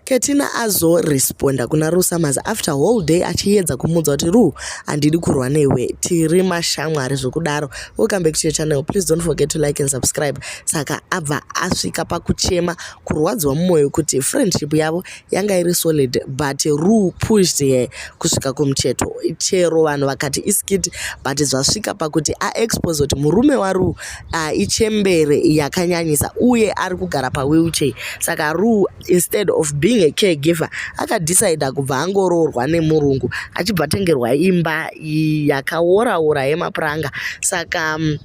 Ketina azoresponda kuna Rue Summers after whole day achiyedza kumuudza kuti Rue handidi kurwa newe tiri mashamwari zvekudaro. Welcome back to your channel. Please don't forget to like and subscribe. Saka abva asvika pakuchema kurwadziwa mumoyo kuti friendship yavo yanga iri solid but Rue pushed her kusvika kumucheto. Chero vanhu vakati iskit but zvasvika pakuti aexpose kuti murume waRue uh, ichembere yakanyanyisa uye ari kugara pawheelchair saka rue instead of being a caregiver akadecida kubva angoroorwa nemurungu achibva atengerwa imba yakaoraora yemapuranga saka um,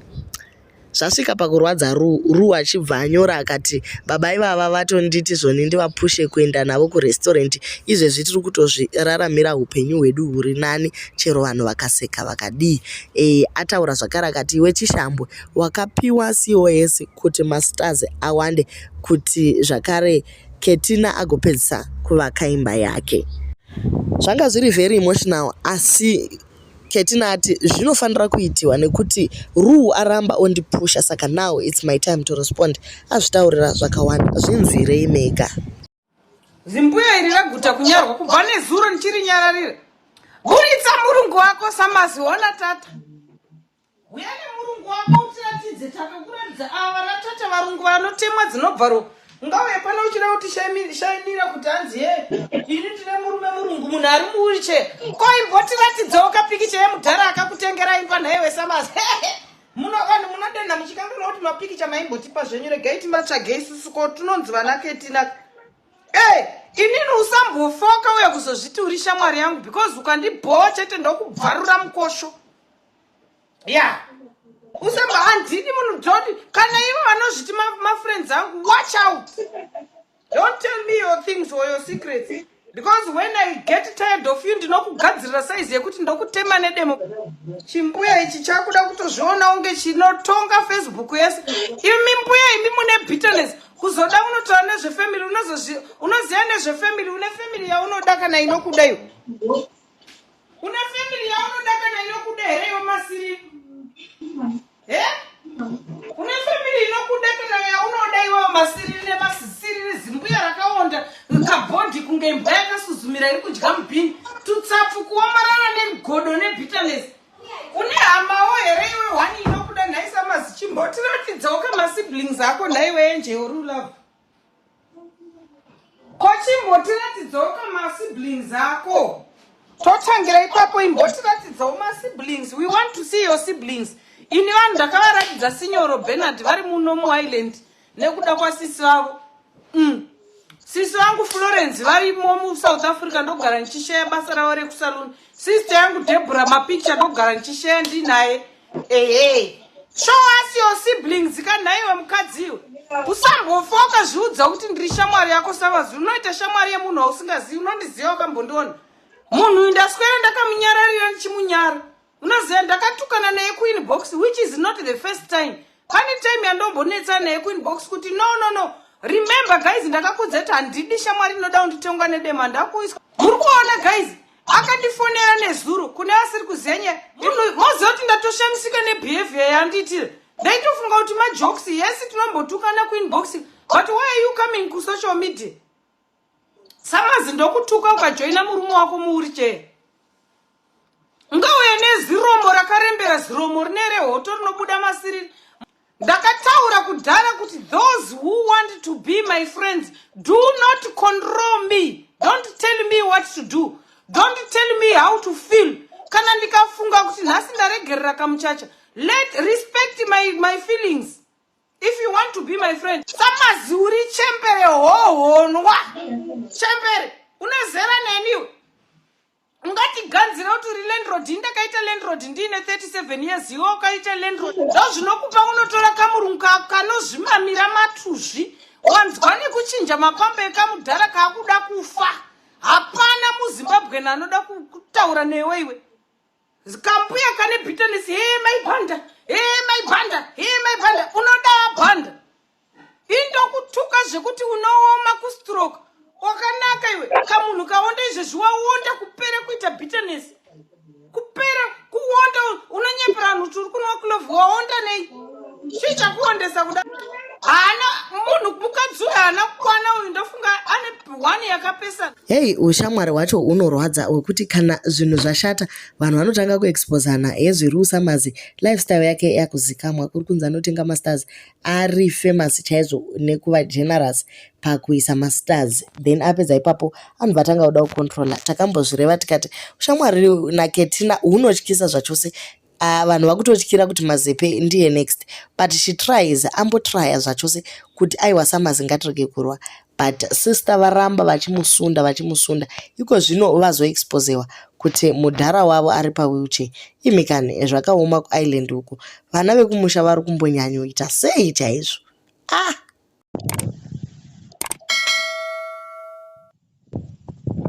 zvasvika pakurwadza ru ru achibva anyora akati baba ivava vatonditi zvoni ndivapushe kuenda navo kurestaurant izvezvi tiri kutozviraramira upenyu hwedu huri nani chero vanhu vakaseka vakadii e, ataura zvakare akati iwe chishambwe wakapiwa cos kuti mastars awande kuti zvakare ketina agopedzisa kuvaka imba yake zvanga zviri very emotional asi ketina ati zvinofanira kuitiwa nekuti ruu aramba ondipusha saka now its my time to respond azvitaurira zvakawanda zvinzwirei mega zimbuya iri raguta kunyarwa kubva nezuro ndichiri nyararira buritsa murungu wako samazi ona tata uya nemurungu wako utiratidze takakuratidza ava vanatata varungu vanotemwa dzinobva ro ungauye pano uchida kuti shainira kuti hanzi ye ini ndine murume murungu munhu ari muwiriche koimbotiratidzawo kapikicha yemudhara akakutengera imba nhaiwe samazi Muno vanhu munodenha muchikanganwa kuti mapikicha maimbotipa zvenyu regai timatsvagei susu ko tinonzi vana ketina ey inini usambofoka uya kuzozviti uri shamwari yangu because ukandibhowa chete ndokubvarura mukosho ya yeah. usamba handidi munhu jodi kana ivo vanozviti mafriends angu watch out Don't tell me your things or your secrets because when I get tired of you ndinokugadzirira size yekuti ndokutema nedemo. Chimbuya ichi chakuda kutozviona kunge chinotonga Facebook yese. Imi mbuya imi mune bitterness kuzoda unotaura nezvefamily unozozvi unoziva nezvefamily une family yaunoda kana inokuda iyo. Une family yaunoda kana inokuda here iwe masiri? He? Une family inokuda kana yaunoda iwe masiri rine masisiri rizimbuya rakaonda kabhodhi kunge imbwa yakasuzumira iri kudya mubhini tutsapfu kuomarara negodo nebitterness. Une hamawo here iwe wani inokuda nhaisa mazichimbo tiratidzawo kama siblings ako nhaiwe enje uri love. kochimbotiratidzawo kamasiblings ako totangira ipapo imbotiratidzawo masiblings we want to see your siblings ini vanhu ndakavaratidza sinyoro benard vari muno muireland nekuda kwasisi vavo mm. sisi vangu florence varimo musouth africa ndogara ndichisheya basa ravo rekusaluni sister yangu debora mapicha ndogara ndichisheya ndinaye ehe show us your siblings ka nhaiwe mukadzi iwe usambofoka zviudza kuti ndiri shamwari yako savazi unoita shamwari yemunhu wausingazivi unondiziva wakambondiona munhu uyu ndaswera ndakamunyararira ndichimunyara unoziva ndakatukana naye queen box which is not the first time pane time yandombonetsa naye queen box kuti no no no remember guys ndakakudza kuti handidi shamwari inoda kunditongwa nedema ndakuiswa muri kuona guys akandifonera nezuro kune asiri kuzenye moziva kuti ndatoshamisika nebehavior yandiitira ndaitofunga kuti majokes yesi tinombotukana kuinbox but why are you coming kusocial media samazi ndokutuka ukajoina murume wako muuri chee ngauya neziromo rakarembera ziromo rine rehoto rinobuda masiriri ndakataura kudhara kuti those who want to be my friends do not control me don't tell me what to do don't tell me how to feel kana ndikafunga kuti nhasi ndaregerera kamuchacha let respect my, my feelings if you want to be my friend samazi uri chembere hohonwa chembere unezera neniwe ungatiganzira kuti uri landrod ndakaita landrod ndiine 37 years iwe ukaita landrod zvo zvinokupa unotora kamurungu kako kanozvimamira matuzvi wanzwa nekuchinja mapamba ekamudhara kaakuda kufa hapana muzimbabwen anoda kutaura newe iwe kambuya kane bitanesi hee maibhanda hee maibhanda hee maibhanda unoda abhanda indokutuka zvekuti unooma kustroke wakanaka iwe kamunhu kaonda izvezvi waonda kupera kuita bitterness kupera kuonda unonyepera vanhu kuti uri kunwa kulovu waonda nei chii chakuondesa kuda haana munhu mukadzi uyo haana kukwana uyu ndofunga ane one yakapesana hei ushamwari hwacho unorwadza wekuti kana zvinhu zvashata vanhu vanotanga kuexposana hezviri usamazi lifestyle yake yakuzikamwa kuri kunzi anotenga masters ari famous chaizvo nekuva generous pakuisa mastars then apedza ipapo anhu vatanga kuda kucontrola takambozvireva tikati ushamwari naketina hunotyisa zvachose ah, vanhu vakutotyira kuti mazepe ndiye next but she tries ambotrya zvachose kuti aiwa samazi ngatirege kurwa but sister varamba vachimusunda vachimusunda iko zvino vazoexposewa kuti mudhara wavo ari pawheelchair imi kani zvakaoma kuisland uku vana vekumusha vari kumbonyanyoita sei chaizvo ah